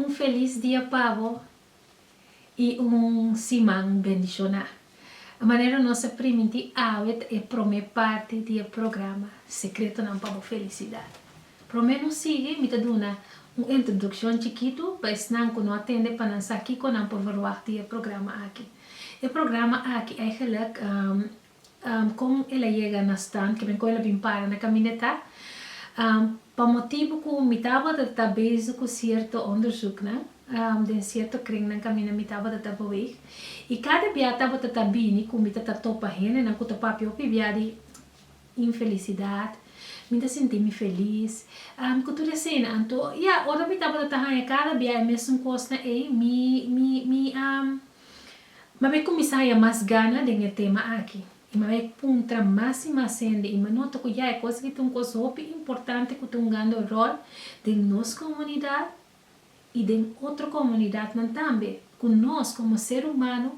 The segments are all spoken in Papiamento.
Un felis dia pabo y un siman bendiciona. E manera nos a primintí awe ta e prome parti di e programa Secretonan pa bo Felicidad. Prome no sigui mi ta duna un introduccion chikitu pa esnan cu no a tende pa nan sa kico nan por verwagt di e programa aki. E programa aki eigenlijk Kon el a yega na stand kimen kon el a bin para na kamineta? Pa motibu ku mi tabata ta bezig ku sierto onderzuknan den sierto kringnan kaminda mi tabata ta boeg i kada bia tabata ta bini ku mi ta ta topa hendenan ku ta papia hopi bia di infelisidat, mi ta sinti mi felis i ku tur esena. Anto, ya, ora mi tabata ta haña kada bia e mesun kosnan ei, mi mi mi a. Mab'e kuminsá haya mas gana den e tema aki, i mab'e puntra mas i mas hende i m'a nota ku ya e kos aki ta un kos hopi importante ku ta hungando ròl den nos komunidat i den otro komunidatnan tambe, ku nos komo ser humano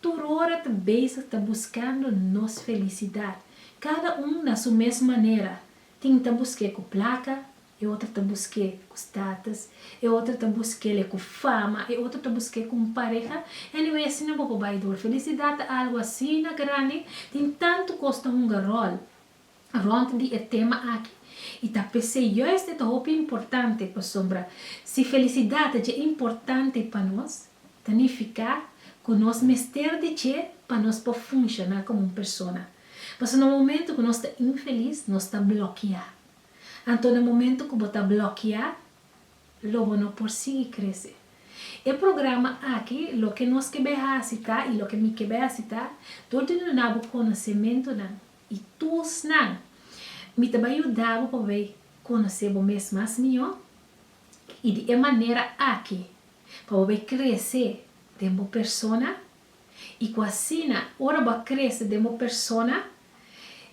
tur ora ta bezig ta buskando nos felisidat, kada un na su mes manera, tin ta busk'é ku plaka, E otro ta busqué cu status, e otro ta busquele cu fama, e otro ta busqué cu un pareha. Anyway, asina bo por bay door. Felicidad ta algo asina grandi, tin tanto cos ta hunga rol rond di e tema aki y ta p'esey juist e ta hopi importante pasobra si felicidad ta dje importante pa nos ta nifica cu nos mester di dje pa nos por funciona como un persona. Pasobra na momento cu nos ta infeliz nos ta bloquea. Anto na momento cu bo ta blokia, lo bo no por sigui crece. E programa aki, Loke nos ke bai haci ta y loke mi ke bai haci ta, dor di duna bo conocementonan y toolsnan, mi ta bai yuda bo pa bai conoce bo mes mas miho y di e manera aki pa bo bai crece den bo persona, I ku asina, ora bo a krese den bo persona,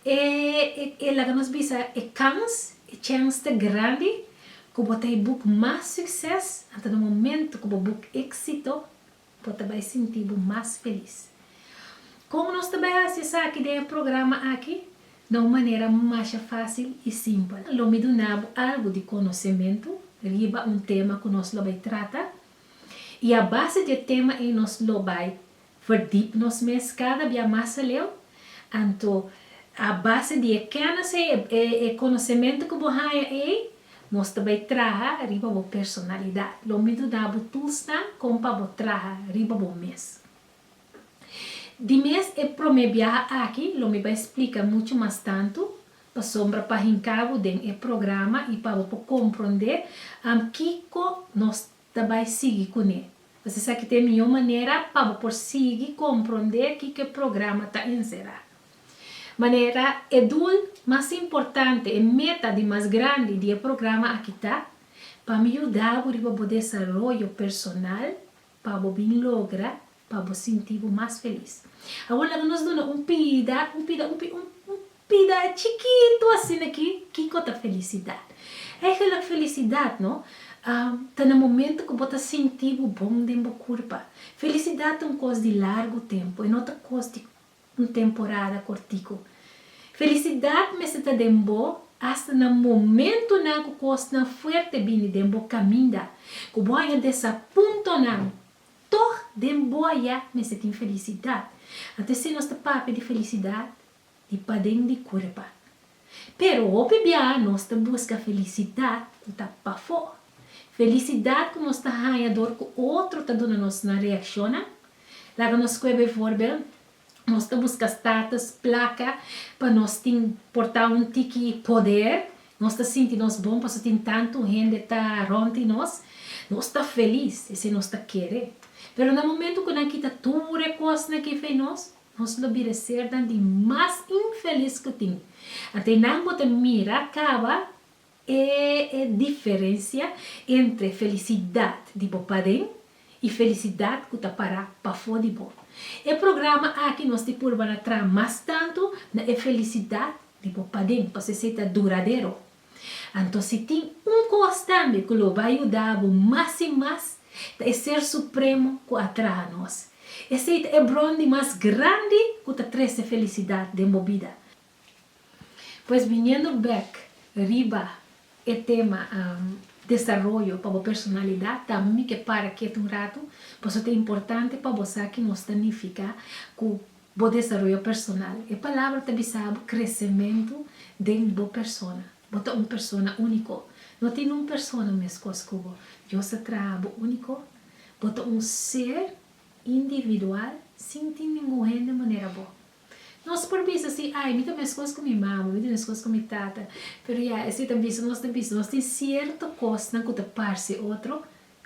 e e laga nos bisa e kans, e chèns ta grandi ku bo ta e buk mas sukses. Anto na momentu ku bo buk éksito, bo ta bai sinti bo mas felis. Kon nos ta bai hasi esaki den e programa aki? Na un manera masha fásil i simpel. Lo mi duna bo algu di konosementu riba un tema ku nos lo bai trata. I a base di e tema ei nos lo bai verdiep nos mes kada bia mas aleu. Anto, a base di e kenis ei, e konosementu ku bo haña ei, nos ta bai traha riba bo personalidat. Lo midu na bo tulsnan kon pa bo traha riba bo mes. Di mes e prome biaha aki lo mi bai splica mucho mas tanto, pasobra pa hinca bo den e programa y pa bo por compronde kico nos ta bai sigui cu ne. Pues esaki ta e mijo manera pa bo por sigui compronde kico e programa ta encera. Manera e doel mas importante, e meta di mas grandi di e programa aki ta, pa mi yuda bo riba bo desaroyo personal Pa bo bin logra, pa bo sinti bo mas felis. Awor laga nos duna un pida, un pida, un pida, un pida chikitu asina ki, kiko ta felisidat. Eigenlijk felisidat no, ta na momento ku bo ta sinti bo bon den bo kurpa. Felisidat ta un kos di largu tempu, e no ta kos di. un temporada cortico. Felicidad mester ta den bo hasta na momentonan cu cosnan fuerte bini den bo caminda, cu bo a haña desapuntonan, tog den bo aya mester tin felicidad. Anto esei nos ta papia di felicidad di paden di cuerpa. Pero hopi biaha nos ta busca felicidad cu ta pafo. Felicidad cu nos ta haya door cu otro ta duna nos nan reaccionnan. Laga nos scue bevoorbeeld, nos ta busca status, placa, pa nos tin porta un tiki poder. Nos ta sinti nos bon paso tin tantu hende ta rond di nos. Nos ta feliz, esey nos ta kere. Pero na momento cu nan kita tur e cosnan cu e fe nos, Nos lo bira sernan di mas infelis ku tin. Ata e nan bo ta mira kaba e e diferensia entre felisidat di bo paden i felisidat ku ta para pafó di bo. E programa aki nos di purba na traha mas tantu na e felisidat di bo paden, pasobra esei ta duradero. Anto si tin un kos tambe ku lo bai yuda bo mas i mas, ta e Ser Supremo ku a traha nos. Esei ta e bron di mas grandi ku ta trese felisidat den bo bida. Pues biniendo bek riba e tema desaroyo pa bo personalidat, tambe mi ke para ketu un ratu, pasobra ta importante pa bo sa ke nos ta nifiká ku Bo desaroyo personal. E palabra ta bisa bo kresementu den bo persona. Bo ta un persona úniko. No tin un persona meskos ku bo. Dios a traha bo úniko. Bo ta un ser individual sin tin ningun hende manera bo. Nos por bisa si, Ai, mi ta meskos ku mi mama, mi ta meskos ku mi tata. Pero ya, esei ta bisa nos ta bisa nos tin sierto kosnan ku ta parse otro,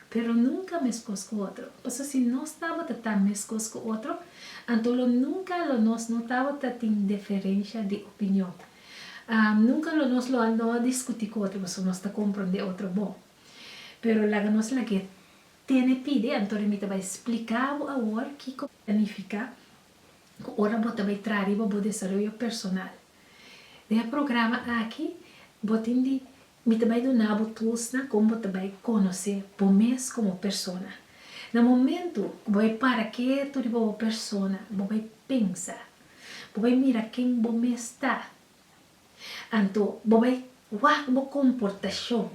Pero nunca mescos cu otro. Pasobra si nos tabata ta mescos cu otro, anto lo nunca lo nos no tabata tin deferencia di opinion. Nunca lo nos lo a no a discuti cu otro, pasobra nos ta comprende otro bon. Pero laga nos lagu'e tene pidi, anto rin mi ta bay splica bo awor kico ta nifica cu ora bo ta bay traha riba bo desaroyo personal. Den e programa aki, bo tin di Mi ta bai duna bo tools nan kon bo ta bai konosé bo mes komo persona. Na momentu ku bo bai para ketu riba bo persona, bo bai pensa, bo bai mira ken bo mes ta. Anto bo bai wak bo komportashon,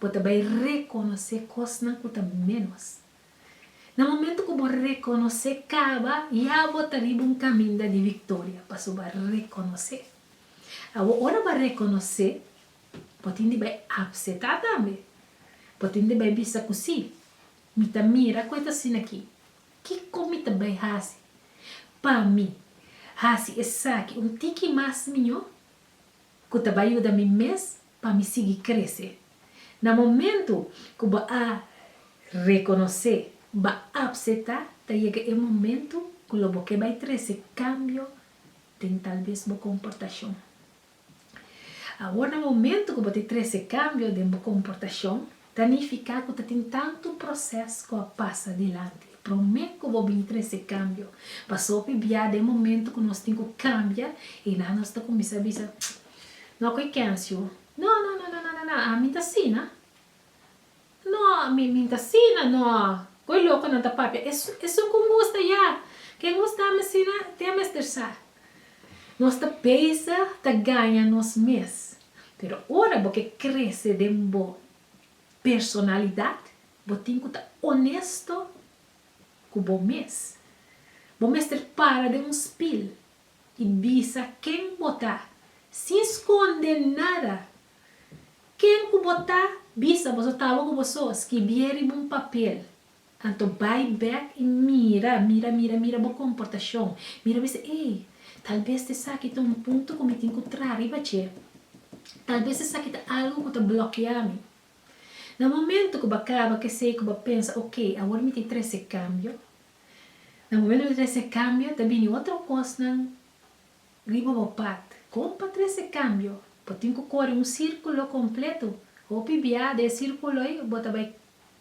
bo ta bai rekonosé kosnan ku ta ménos. Na momentu ku bo rekonosé kaba, ya bo ta riba un kaminda di viktoria, pasobra bo a rekonosé. Awor, ora bo a rekonosé, bo tin di bai apsetá tambe. Bo tin di bai bisa ku sí, mi ta mira ku e ta asina akí. Kiko mi ta bai hasi pa mi hasi esaki un tiki mas mió ku ta bai yuda mi mes pa mi sigui krese? Na momentu ku bo a rekonosé, bo a apsetá, ta yega e momentu ku lo bo ke bai trese kambio den tal bes bo komportashon. Awor na momentu ku bo ta trese kambio den bo komportashon, ta nifiká ku ta tin tantu proses ku a pasa dilanti. Promé ku bo bini trese kambio, pasobra bia den momentu ku nos tin ku kambia i nan nos ta kuminsá bisa, No ku e Kencio, no no no no no no no, ami ta asina. No, mi mi ta sina no. Koe lokonan ta papia es esun ku ngusta ya. Ke ngusta mi sina te a mester sa. Nos ta pesa ta gaña nos mes. Pero ora bo ke krese den bo personalidat, bo tin ku ta onesto ku bo mes. Bo mester para den un spil i bisa ken bo ta, sin skonde nada. Ken ku bo ta? Bisa boso tabo ku boso skibié riba un papel. Anto bai bek i mira, mira, mira, mira bo komportashon. Mira bisa, Ei, tal bes ta esaki ta un punto ku mi tin ku traha riba dje. Tal bes esaki ta algu ku ta blokiá mi. Na momentu ku bo kaba ku esei ku bo pensa, Oke, awor mi tin trese kambio. Na momentu ku mi ta trese kambio ta bini otro kosnan Riba bo pat, kon pa trese kambio? Bo tin ku kore un sirkulo kompletu. Hopi bia den e sirkulo ei bo ta bai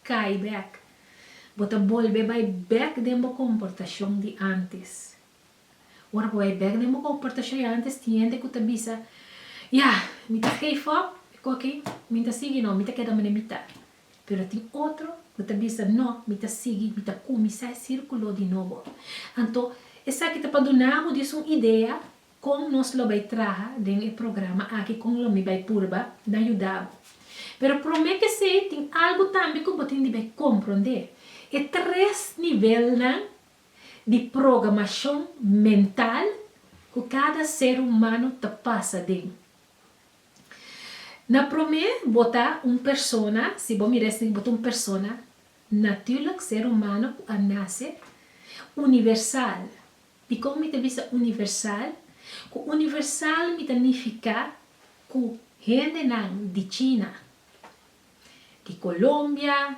kai bèk. Bo ta bolbe bai bèk den bo komportashon di antes. Ora bo bai bèk den bo komportashon di antes tin hende ku ta bisa, Ya, mi ta geef op, mi koki, mi no ta sigui no, mi ta keda manerbita. Pero tin otro cu ta bisa, No, mi ta sigui, mi ta cuminsá e círculo di nobo. Anto, esaki ta pa duna bo dies un idea con nos lo bay traha den e programa aki con lo mi bay purba na yuda bo. Pero prome kesey tin algu tambe cu bo tin di bay comprende, e tres nivelnan di programacion mental cu cada ser humano ta pasa den. Na promé bo ta un persona, si bo mira esei bo ta un persona natùrlik, ser humano ku a nase universal. Dikon mi ta bisa universal? Ku universal mi ta nifiká ku hendenan di China, di Colombia,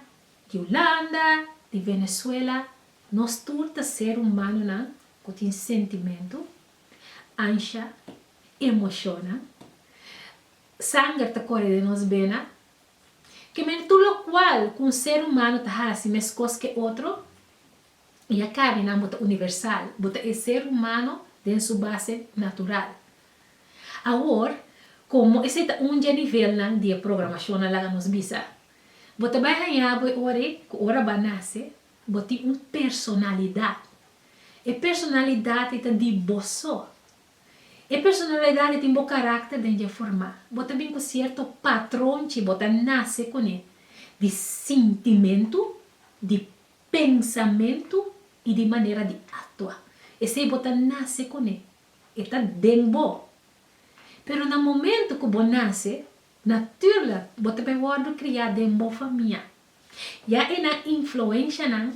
di Ulanda, di Venezuela, nos tur ta ser humanonan ku tin sentimentu, ansha, emoshonan. Sanger ta kore den nos bena. Ke menitud lokual ku un ser humano ta hasi meskos ke otro? I a karninan bo ta universal, bo ta e ser humano den su base natural. Awor, komo esei ta un dje nivelnan di e programashon a laga nos bisa, bo ta bai haña bo e ora ei ku ora bo a nase bo tin un personalidat. E personalidat ei ta di bo so. E personalidad e tin bo carácter den dje formá. Bo ta bin cu cierto patrón chi bo ta nace cune di sintimentu, di pensamentu y di manera di actua. Esey bo ta nace cune, e ta den bo. Pero na momento cu bo nace, naturlek bo ta bay wordo cria den bo famia. Ya e nan influencianan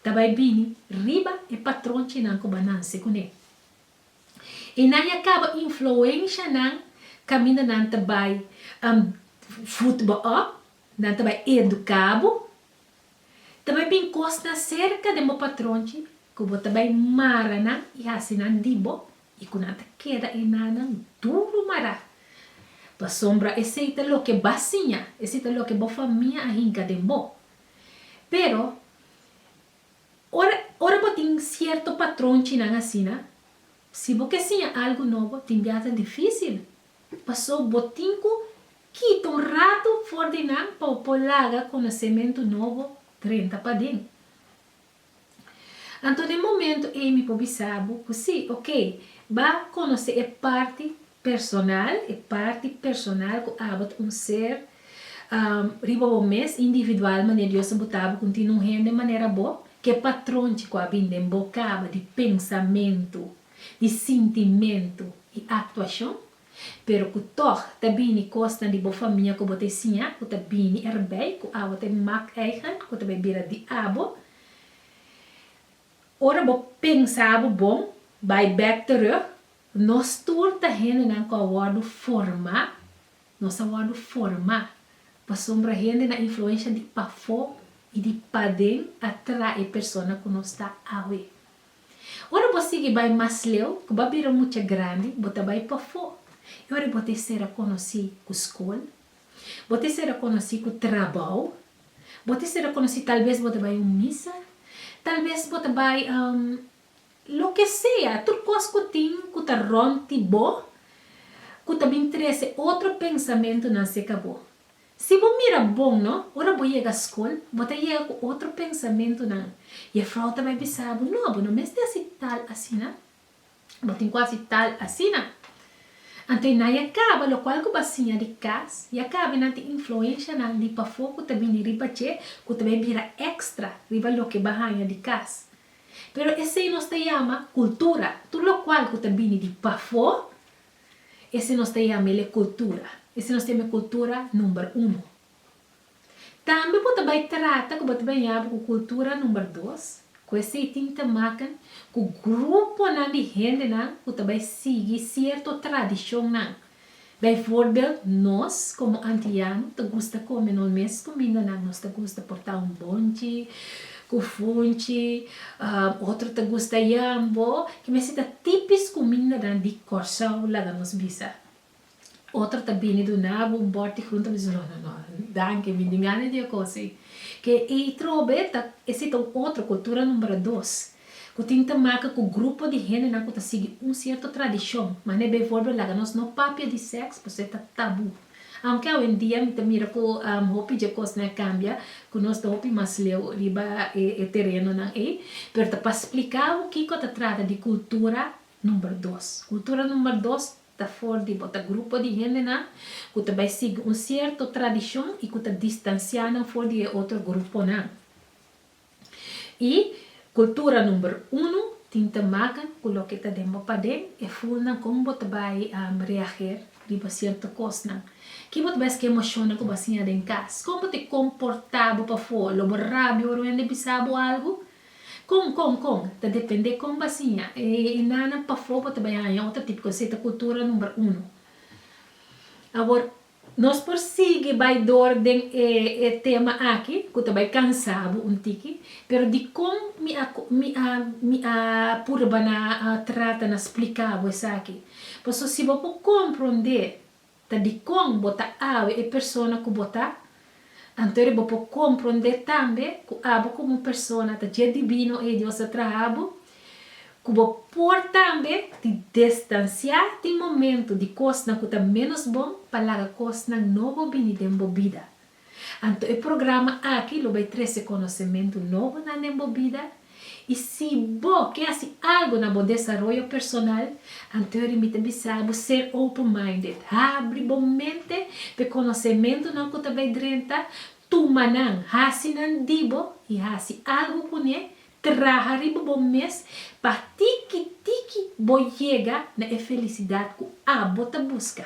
ta bay bini riba e patronchinan cu bo a nace cune. E nan ya caba influencia nan caminda nan ta bay voed bo op, nan ta bay educa bo, ta bay bin cosnan cerca den bo patronchi cu bo ta bay mara nan y haci nan di bo y cu nan ta keda e nannan duro mara, pasobra esey ta loke ba siña, esey ta loke bo famia a hinca den bo. Pero Ora ora bo tin cierto patronchinan asina, si bo ke siña algo nobo tin biaha dificil, paso bo tin cu kita un rato for di nan pa bo por laga conocemento nobo drenta paden. Anto den momento ey mi por bisa bo cu si, ok, ba conoce e parti Personal, e parti personal cu abo ta un ser riba bo mes, individual, manera Dios a buta bo, cu tin un hende manera bo, ke patronchi cu a bin den bo caba di pensamentu, di sintimentu y actuacion, pero cu tog ta bini cosnan di bo famia cu bo ta e siña cu ta bini erbey, cu abo ta e mak eigen cu ta bay bira di abo. Ora bo pensa abo bon, bay bek terug, Nos tur ta hendenan ku a wòrdu forma, nos a wòrdu forma, pasobra hende na influensha di pafó i di paden a trae persona ku nos ta awe. Ora bo sigui bai mas leu, ku bo a bira mucha grandi, bo ta bai pafó, i ora bo ta e ser a konosí ku skol, bo ta e ser a konosí ku trabou, bo ta e ser a konosí talbes bo ta bai un misa, talbes bo ta bai. Loke sea, tur kos ku tin ku ta rònt di bo ku ta bin trese otro pensamentunan seka bo. Si bo mira bon no, ora bo yega skol, bo ta yega ku otro pensamentunan. Jefrou ta bai bisa bo, No, bo no mester hasi tal asina. Bo tin ku hasi tal asina. Anto nan ya kaba lokual ku bo a siña di kas, ya kaba i nan tin influenshanan di pafó ku ta bini riba dje ku ta bai bira èkstra riba loke bo a haña di kas. Pero esei nos ta yama kultura. Tur lokual ku ta bini di pafó, esei nos ta yama el e kultura. Esei nos ta yama e kultura number uno. Tambe bo ta bai trata ku bo ta bai yama bo ku kultura number dos, ku esei tin ta makan ku gruponan di hendenan ku ta bai sigui sierto tradishonnan. Bijvoorbeeld, nos komo antiano ta gusta kome nos mes kumindanan, nos ta gusta portá un bonchi ku funchi, otro ta gusta yambo, ki mes ta tipis kumindanan di Kòrsou, laga nos bisa. Otro ta bini duna bo un bòrti frunt ta bisa, no, no, no, danki, mi tin gana di e kos ei. Ke ei trobe ta, esei ta un otro kultura number dos. Ku tin ta maka ku grupo di hendenan ku ta sigui un sierto tradishon, manera bivoorbeeld laga nos no papia di sèks pasobra ta tabú. Aunke awendia mi ta mira ku hopi dje kosnan a kambia, ku nos ta hopi mas leu riba e terenonan ei, pero ta pa splika bo kiko ta trata di kultura number dos. Kultura number dos ta for di bo ta grupo di hendenan ku ta bai sigui un sierto tradishon i ku ta distansiá nan for di e otro gruponan. Y cultura number uno tin te maca cu loke ta den bo paden, e fulnan con bo ta bay reager riba cierto cosnan, ki bo ta bay esque emocionnan cu bo a siña den cas, con bo ta comporta bo pafoor, lo bo rabia ora wende bisa bo algo? Con, con, con, ta depende con bo a siña e nanan pafoor bo ta bay haña otro tipo, cu esey ta cultura number uno. Awor Nos por sigui bai door den e e tema aki cu ta bai cansa bo un tiki, pero dicon mi a mi a mi a purba na a trata na splica bo esaki. Paso si bo por comprende ta dicon bo ta awe e persona cu bo ta. Anto riba bo komprondé tambe ku abo komo un persona ta dje divino ei Dios a traha bo, ku bo por tambe di destansiá tin momentu di kosnan ku ta ménos bon pa laga kosnan nobo bini den bo bida. Anto e programa aki lo bai trese konosementu nobo nan den bo bida. I si bo ke hasi algu na bo desaroyo personal, anteori mi ta bisa bo ser open-minded. Habri bo mente pa e konosementunan ku ta bai drenta, tuma nan, hasi nan di bo i hasi algu kuné. Traha riba bo mes pa tiki tiki bo yega na e felisidat ku abo ta buska.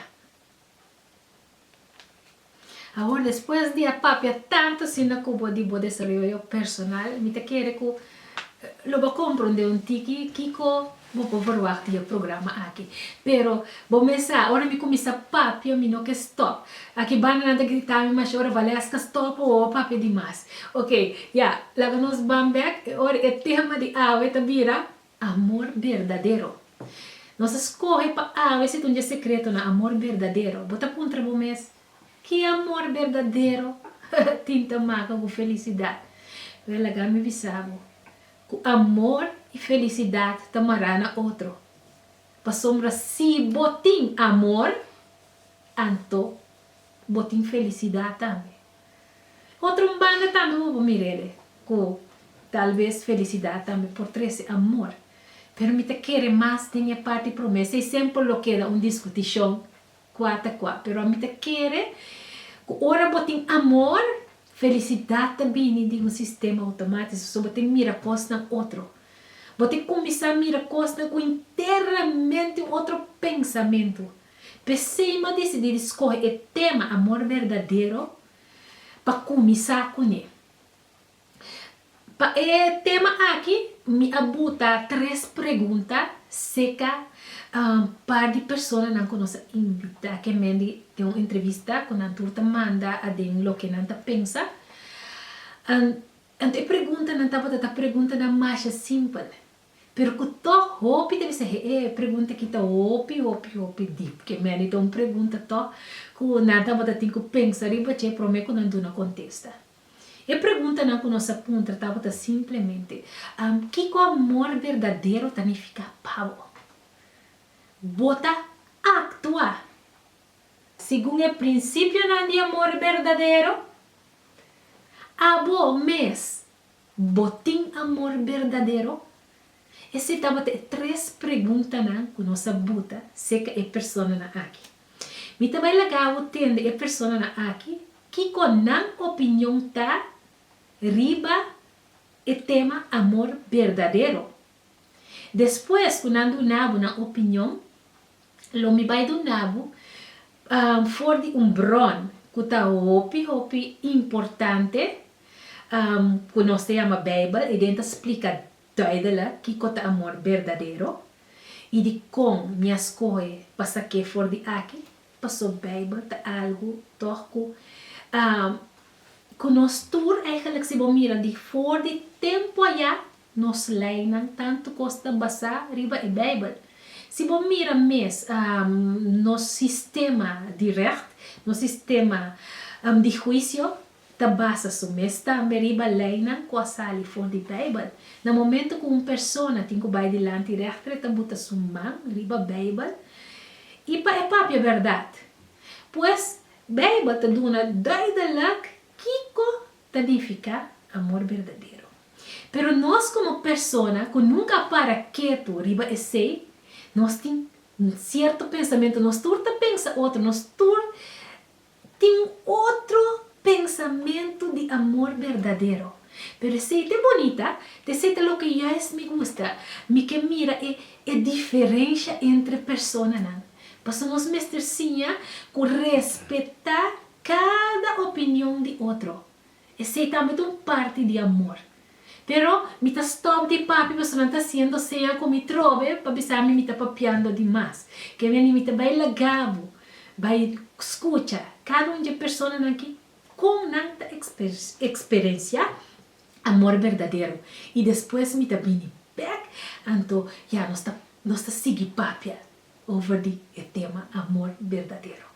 Awor despues di a papia tantu asina ku bo di bo desaroyo personal, mi ta kere ku lo bo a komprondé un tiki kiko bo por verwagt di e programa aki. Pero bo mes sa, ora mi kuminsá papia mi no ke stòp. Aki Bandanan ta grita mi, Masha, ora Valés ta stòp o bo a papia di mas. Oke, ya, laga nos ban bèk, e ora e tema di awe ta bira Amor berdadero. Nos a skohe pa awe si ta un dje sekreto na amor berdadero. Bo ta puntra bo mes, Ki amor berdadero tin ta maka ku felisidat? Wèl, laga mi bisa bo ku amor i felisidat ta mará na otro. Pasobra si bo tin amor, anto bo tin felisidat tambe. Otro un banda tambe bo por mir'ele cu tal vez felicidad tambe por trece amor. Pero mi ta kere mas den e parti promesa y semper lo keda un discuticion cua ta cua. Pero ami ta kere cu ora bo tin amor, felicidad ta bini di un sistema automatico, so bo tin mira cosnan otro. Bo tin cuminsa mira cosnan cu internamente un otro pensamento. P'esei m'ha decidí di scoge e tema Amor Verdadero pa cuminsá cun'e. Pa e tema aki mi a buta tres pregunta seca un par di personanan cu nos a invitá cu e men di den un entrevista cu nan tur ta manda aden loke nan ta pensa. Anto e preguntanan tabata ta preguntanan masha simpel. Pero ku tòg hopi ta bisa he'e e pregunta ki ta hopi hopi hopi dip. Ke mende ta un pregunta tòg ku nan tabata tin ku pensa riba dje promé ku nan duna kontesta. E preguntanan ku nos a puntra tabata simplemente, Am, kiko amor berdadero ta nifiká pa bo? Bo ta aktua segun e prinsipionan di amor berdadero? Abo mes Bo tin amor berdadero? Esei tabata e tres preguntanan ku nos a buta serka e personanan aki. Mi ta bai laga bo tende e personanan aki kiko nan opinion ta riba e tema amor berdadero. Despues ku nan duna bo nan opinion, Lo mi bai duna bo for di un bron ku ta hopi hopi importante ku nos ta yama Beibel. I den ta splika duidelik kiko ta amor berdadero i dikon mi a skohe pa sa ke for di aki. Paso Beibel ta algu tòg ku ku nos tur, eigentlik si bo mira di for di tempu ayá Nos leinan tantu kos ta basá riba e Beibel. Si bo mira mes nos sistema di règt, nos sistema di huisio, ta basa su mes tambe riba leinan ku a sali for di Beibel. Na momentu ku un persona tin ku bai dilanti règter e ta buta su man riba Beibel i pa e papia bèrdat. Pues, Beibel ta duna duidelik kiko ta nifiká amor berdadero. Pero nos komo persona ku nunka a para ketu riba esei, nos tin sierto pensamentu, nos tur ta pensa otro, nos tur tin otro pensamentu di amor berdadero. Pero esei ta e bonita, ta esei ta loke yais mi gusta, mi ke mira e e diferensha entre personanan. Pasobra nos mester siña ku respetá Kada opinion di otro, esei tambe ta un parti di amor. Pero mi ta stòp di papia pasobra nan ta hasiendo seña ku mi trobe pa bisami mi ta papiando di mas. Ke bier ni mi ta bai lagá bo bai skucha kada un dje personanan ki kon nan ta eksperensiá amor berdadero i despues mi ta bini bèk anto ya nos ta nos ta sigui papia over di e tema amor berdadero.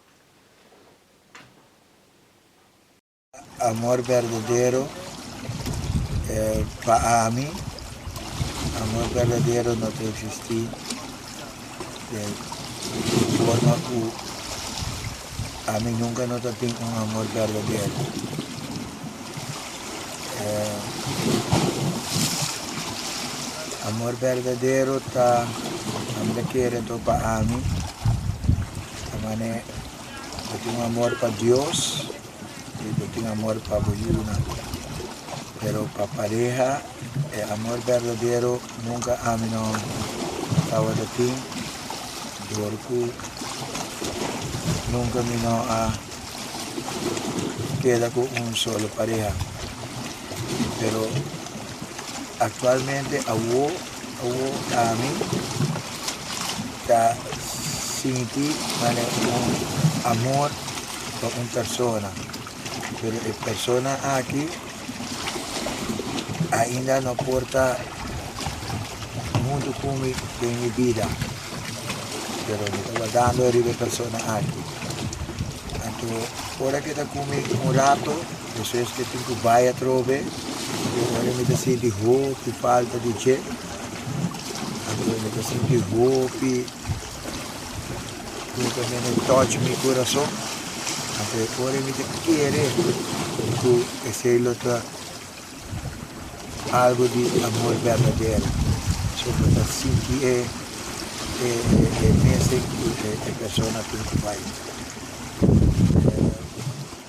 Amor berdadero e pa ami. Amor berdadero no ta existi den forma ku ami nunka no ta tin un amor berdadero. E amor berdadero ta, ami ta kere anto pa ami. Bo mane bo tin un amor pa Dios y bo tin amor pa bo yunan, pero pa pareha e amor berdadero nunca ami no tawata tin dor cu nunca mi no a keda cu un solo pareha, pero actualmente awo Ku ami ta sinti mane un amor pa un persona, pero e persona aki ainda no por ta huntu ku mi den mi bida, pero mi ta wardando riba e persona aki. Anto, ora ke ta ku mi un rato. Eso es ke tin ku bai atrobe, i ora mi ta sinti hopi falta di dje, anto mi ta sinti hopi ku ta bini touch mi kurason, anto e ora mi ta kere ku esei lo ta algu di amor berdadero, so pa ta sinti e e mesen ku e persona tin ku bai.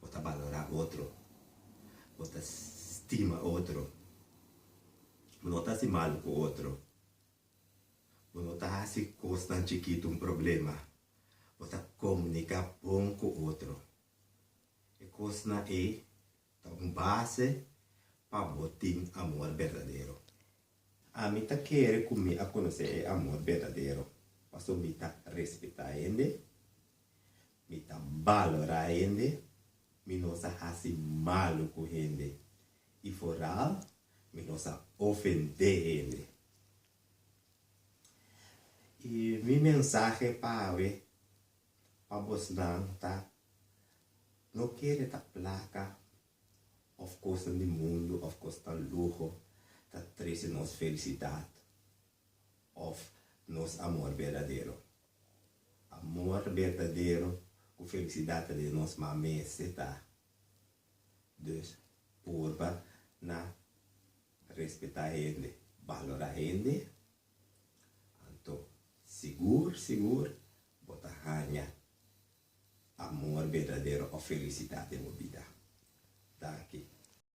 Bo ta balorá otro. Bo ta stima otro. Bo no ta hasi malu ku otro. Bo no ta hasi kosnan chikitu un problema. Bo ta komuniká bon ku otro. E kosnan ei ta un base pa bo tin amor berdadero. Ami ta kere ku mi a konosé e amor berdadero pasobra mi ta respetá hende, Mi ta balorá hende, mi no sa hasi malu ku hende i foral mi no sa ofendé hende. I mi mensahe pa awe pa bosnan ta, No kere ta plaka òf kosnan di mundu òf kosnan luho ta trese nos felisidat òf nos amor berdadero. Amor berdadero ku felisidat ta den nos ma mester ta dus purba na respetá hende, balorá hende, anto sigur sigur bo ta haña amor berdadero òf felisidat den bo bida. Danki.